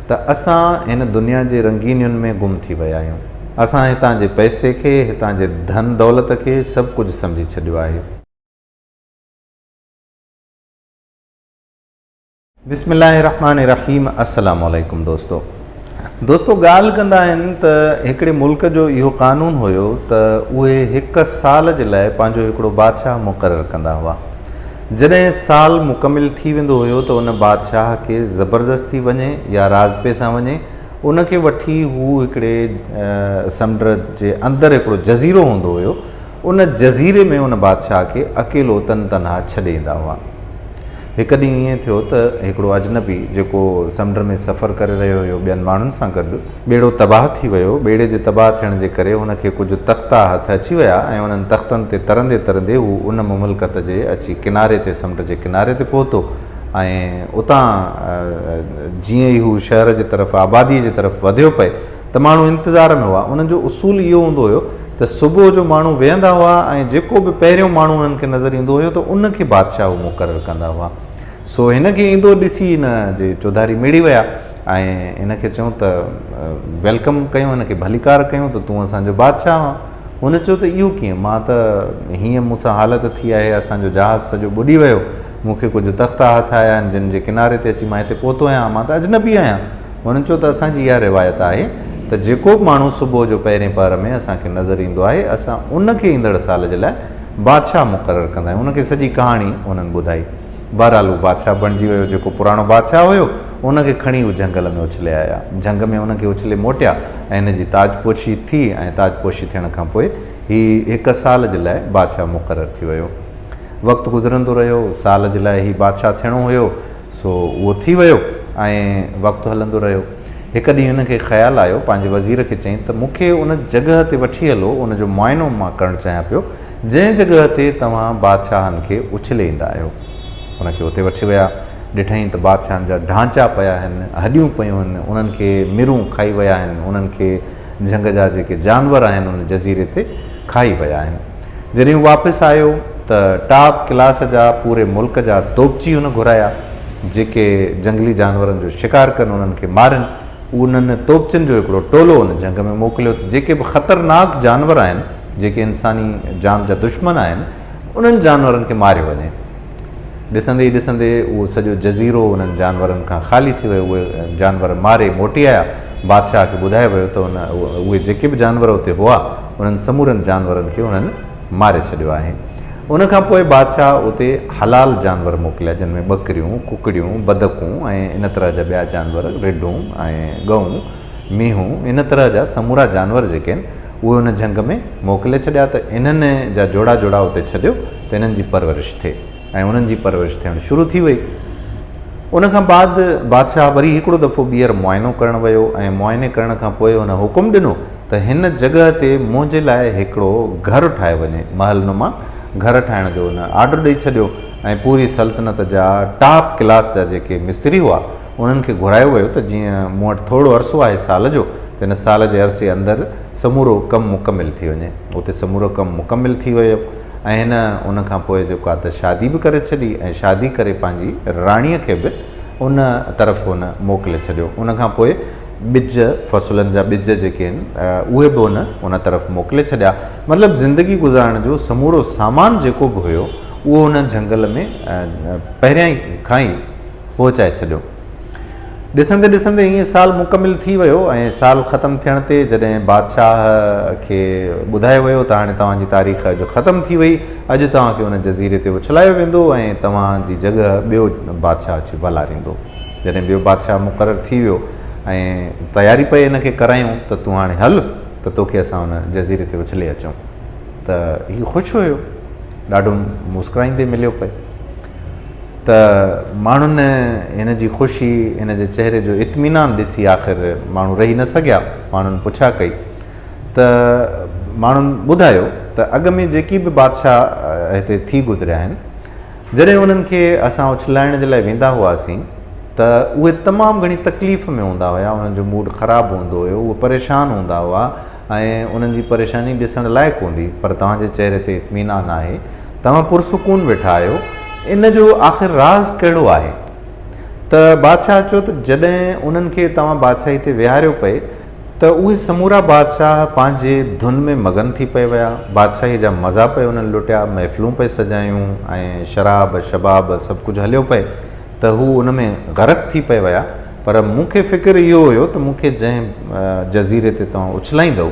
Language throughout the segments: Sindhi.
ته اسان هن دنيا جي رنگينين ۾ گم ٿي ويا آهيون. اسان هتان جي پئسي کي، هتان جي ڌن دولت کي سڀ ڪجهه سمجهي ڇڏيو آهي. بسم الله الرحمٰن الرحيم السلام عليڪم دوستو دوستو ڳالهه ڪندا آهن ته هڪڙي ملڪ جو اهو قانون هيو ته اهي هڪ سال جي لاء پنهنجو هڪڙو بادشاهه مقرر ڪندا هئا جڏهن سال مڪمل ٿي ويندو هيو ته ان بادشاهه کي زبردستي وڃي يا راضپي سان وڃي ان کي وٺي هو هڪڙي سمنڊ جي اندر هڪڙو جزيرو هوندو هيو ان جزيري ۾ ان بادشاهه کي اڪيلو تن تنها ڇڏي ايندا هئا هڪ ڏينهن ائين ٿيو ته هڪڙو اجنبي جيڪو سمنڊ ۾ سفر ڪري رهيو هيو ٻين ماڻهن سان گڏ ٻيڙو تباهه ٿي ويو. ٻيڙي جي تباهه ٿيڻ جي ڪري هن کي ڪجهه تختا هٿ اچي ويا ۽ انهن تختن تي ترندي ترندي هو ان مملڪت جي اچي ڪناري تي سمنڊ جي ڪناري تي پهتو ۽ اتان جيئن ئي هو شهر جي طرف آباديء جي طرف وڌيو پئي ته ماڻهو انتظار ۾ هئا. انهن جو اصول اهو هوندو هيو ته صبح جو ماڻهو ويهندا هئا ۽ جيڪو به پهريون ماڻهو انهن کي نظر ايندو هيو ته ان کي بادشاهه هو مقرر ڪندا هئا. سو هن کي ايندو ڏسي هن جي چوڌاري مڙي ويا. ۽ هن کي چئون ته ويلڪم ڪيون هن کي ڀليڪار ڪيون ته تون اسان جو بادشاهه آن. هن چيو ته اهو ڪيئن مان ته هيئن مون سان حالت ٿي آهي اسان جو جهاز سڄو ٻڏي ويو مون کي ڪجهه تختا هٿ آيا آهن جن جي ڪناري تي اچي مان هتي پهتو آهيان مان ته اجنبي آهيان. هن چيو ته اسان جي اها روايت آهي ته جيڪو به ماڻهو صبح جو پهرين پهر ۾ اسان کي نظر ايندو آهي اسان ان کي ايندڙ سال جي لاء بادشاهه مقرر ڪندا آهيون ان کي سڄي ڪهاڻي هنن ٻڌائي. بهرحال هو بادشاهه بڻجي ويو، جيڪو پراڻو بادشاهه هيو، ان کي کڻي هو جهنگل ۾ اڇلي آيا. جهنگ ۾ هن کي اڇلي موٽيا ۽ هن جي تاجپوشي ٿي ۽ تاجپوشي ٿيڻ کان پوء هي هڪ سال جي لاء بادشاهه مقرر ٿي ويو. وقت گذرندو رهيو، سال جي لاء هي بادشاهه ٿيڻو هيو، سو اهو ٿي ويو ۽ وقت هلندو رهيو. هڪ ڏينهن هن کي خيال آيو، پنهنجي وزير کي چيائين ته مون کي ان جڳهه تي وٺي هلو، ان جو معائنو مان ڪرڻ چاهيان پيو جنهن جڳهه تي توهان بادشاهن کي اڇلي ايندا آهيو. هن کي اتي وٺي ويا. ڏٺائين ته بادشاهن جا ڍانچا پيا آهن، هڏيون پيون آهن، انهن کي مرون کائي ويا آهن، انهن کي جهنگ جا جيڪي جانور آهن ان جزيري تي کائي ويا آهن. جڏهن هو واپس آيو ته ٽاپ ڪلاس جا پوري ملڪ جا دوبچي هن گهرايا، جيڪي جهنگلي جانورن جو شڪار ڪن، انهن کي مارين. انهن توپچين جو هڪڙو ٽولو ان جنگ ۾ موڪليو ته جيڪي به خطرناڪ جانور آهن، جيڪي انساني جان جا دشمن آهن، انهن جانورن کي ماريو وڃي. ڏسندي ئي ڏسندي اهو سڄو جزيرو انهن جانورن کان خالي ٿي ويو. اهي جانور ماري موٽي آيا. بادشاهه کي ٻڌايو ويو ته اهي جيڪي به جانور اتي هئا، انهن سمورن جانورن کي انهن. ماري ڇڏيو آهي. ان کان پوء بادشاهه اتي حلال جانور موڪليا، جن ۾ ٻڪريون، ڪڪڙيون، بدڪون ۽ ان طرح جا ٻيا جانور، رڍون ۽ ڳئون، مينهون، ان طرح جا سمورا جانور جيڪي آهن، اهي ان جهنگ ۾ موڪلي ڇڏيا ته انهن جا جوڙا جوڙا اتي ڇڏيو ته انهن جي پرورش ٿئي. ۽ انهن جي پرورش ٿيڻ شروع ٿي وئي. ان کان بعد بادشاهه وري هڪڙو دفعو ٻيهر معائنو ڪرڻ ويو ۽ معائني ڪرڻ کان پوء هن حڪم ڏنو ته هن جڳهه تي منهنجي لاء هڪڙو گهر ٺاهيو وڃي. محل نما گهر ٺاهڻ جو هن آرڊر ڏئي ڇڏيو ۽ پوري سلطنت جا ٽاپ ڪلاس جا جيڪي مستري هئا انهن کي گهرايو ويو ته جيئن مون وٽ ٿورڙو عرصو آهي سال جو ته ان سال جي عرصي اندر سمورو ڪم مڪمل ٿي وڃي. اتي سمورو ڪم مڪمل ٿي ويو. ۽ هن ان کان پوء جيڪو آهي ته شادي به ڪري ڇڏي ۽ شادي ڪري پنهنجي راڻيء کي به ان طرف هن موڪلي ڇڏيو. ان کان پوء ٻج، فصلن جا ٻج جيڪي آهن اهي به هن ان طرف موڪلي ڇڏيا. مطلب زندگي گذارڻ جو سمورو سامان جيڪو به هيو اهو هن جهنگل ۾ پهريائين کان ئي پهچائي ڇڏيو. ڏسندي ڏسندي هيء سال مڪمل ٿي ويو ۽ سال ختم ٿيڻ تي جڏهن بادشاهه کي ٻڌايو ويو ته هاڻي توهان جي تاريخ اڄ ختم ٿي وئي، اڄ توهان کي ان جزيري تي اڇلايو ويندو ۽ توهان جي جڳهه ٻيو بادشاهه اچي والاريندو. جڏهن ٻيو بادشاهه مقرر ٿي ويو ۽ تياري پئي هن کي ڪرايون ته تون هاڻي هل ته توکي اسان ان جزيري تي اڇلي اچون ته هي خوش هيو، ڏاڍو مسڪرائيندي مليو پئي. ته ماڻهن هن جي خوشي، هن جي چهري جو اطمينان ڏسي آخر ماڻهو رهي نه سگهيا، ماڻهن پڇا ڪئي ته ماڻهن ٻڌايو ته اڳ ۾ جيڪي به بادشاهه هتي ٿي گذريا آهن، جڏهن انهن کي اسان اڇلائڻ جي لاء ويندا هئاسين ته اهي تمام گهڻي تڪليف ۾ هوندا هيا، انهن جو موڊ خراب هوندو هيو، اهي پريشان هوندا هئا. ۽ انهن جي پريشاني ڏسڻ لائق هوندي پر توهان جي چهري تي اطمينان آهي. توهان پرسڪون ويٺا آهيو. ان جو آخر راز ڪهڙو آهي؟ ته بادشاهه چيو ته جڏهن انهن کي توهان بادشاهي تي ويهاريو پئي ته اهي سمورا بادشاهه پنهنجي ڌن ۾ مگن ٿي پئي ويا. بادشاهيء جا مزا پئي انهن لٽيا، محفلون پئي سجايون ۽ شراب، شباب سڀ ڪجهه هليو پئي. ته هو ان ۾ غرق ٿي پئي ويا، پر مون کي فڪر اهو هيو ته مون کي جنهن جزيري تي توهان اڇلائيندؤ،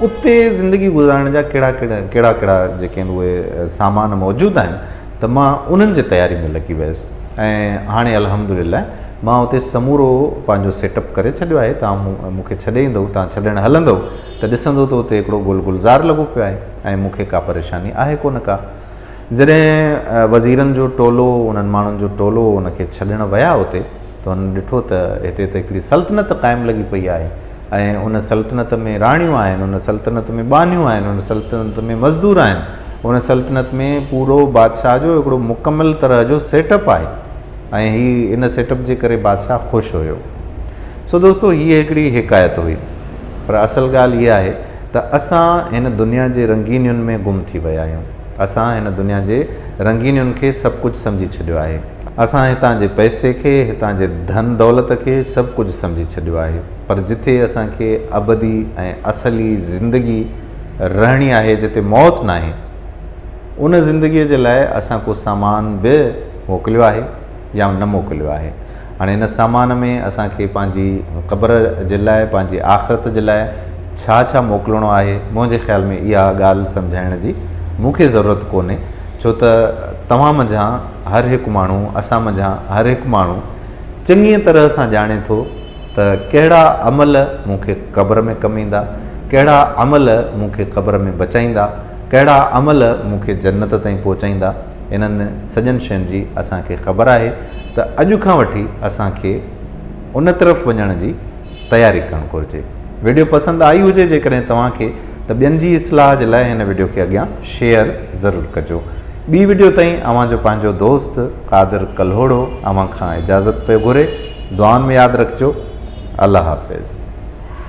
اتي زندگي گذارڻ جا ڪهڙا ڪهڙا ڪهڙا جيڪي آهن اهي سامان موجود آهن ته مان انهن جي تياري ۾ لڳي ويس ۽ هاڻي الحمد لله مان اتي سمورو پنهنجو سيٽ اپ ڪري ڇڏيو آهي، توهان مون کي ڇڏي ايندؤ، توهان ڇڏڻ هلندؤ ته ڏسندؤ ته اتي هڪڙو گل گلزار لڳو پيو آهي ۽ مون کي ڪا پريشاني آهي ڪونه ڪا. جڏهن وزيرن جو ٽولو انهن ماڻهن جو ٽولو ان کي ڇڏڻ ويا اتي ته هنن ڏٺو ته هتي ته هڪڙي سلطنت قائم لڳي پئي آهي ۽ ان سلطنت ۾ راڻيون آهن ان سلطنت ۾ ٻانهيون آهن ان سلطنت ۾ مزدور آهن ان سلطنت ۾ پورو بادشاهه جو هڪڙو مڪمل طرح جو سيٽ اپ آهي ۽ هي ان سيٽ اپ جي ڪري بادشاهه خوش هيو سو دوستو هي هڪڙي حڪايت هئي پر اصل ڳالهه اها آهي ته اسان هن دنيا جي رنگينين ۾ گم ٿي ويا آهيون. اسان هن دنيا جي رنگينين کي سڀ ڪجهه سمجهي ڇڏيو آهي. اسان هتان جي پئسي کي، هتان جي ڌن دولت کي سڀ ڪجهه سمجهي ڇڏيو آهي. پر جتي اسان کي ابدي ۽ اصلي زندگي رهڻي آهي، جتي موت ناهي، ان زندگيء جي لاء اسان ڪو سامان به موڪليو آهي يا نه موڪليو آهي. هاڻي ان سامان ۾ اسان کي پنهنجي قبر جي لاء پنهنجي آخرت جي لاء ڇا ڇا موڪلڻو آهي منهنجي خيال ۾ اها ڳالهه سمجهائڻ جي مون کي ضرورت ڪونهي ڇو ته توهان منجهان هر هڪ ماڻهو اسان منجهان هر هڪ ماڻهو چڱيء طرح سان ڄاڻي ٿو ته ڪهڙا عمل مون کي قبر ۾ ڪم ايندا ڪهڙا عمل مون کي قبر ۾ بچائيندا ڪهڙا عمل مون کي جنت تائين پهچائيندا انهن سڄن شين جي اسان کي خبر آهي ته اڄ کان وٺي اسان کي ان طرف وڃڻ جي تياري ڪرڻ گهرجي. وڊيو پسند آئي هجي جيڪڏهن توهان کي ته ٻين جي اصلاح جي لاء هن وڊيو کي اڳيان شيئر ضرور ڪجو. ٻي وڊيو تائين اوهان جو پنهنجو دوست قادر ڪلهوڙو اوهان کان اجازت پيو گهري. دعائن ۾ ياد رکجو. الله حافظ.